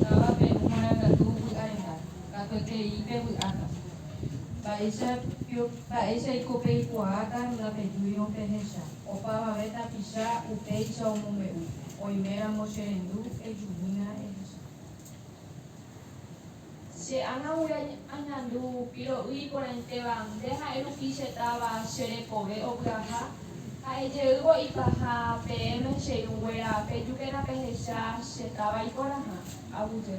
Táva Perú marangatu vy'arenda, katuetei pevy'áta. Mba'éicha pio, mba'éicha iko peikuaáta ndapejúirõ pehecha. Opavave tapicha upéicha omombe'u, oiméramo cherendu, ejuhína ehecha. Che ágagui añandu piro'y iporãitéva, nde ha'e rupi che táva che rekove opyaha. Ha'e jeývo ipaha peẽme che irũnguéra, pejúkena pehecha che táva iporãha. Aguyje.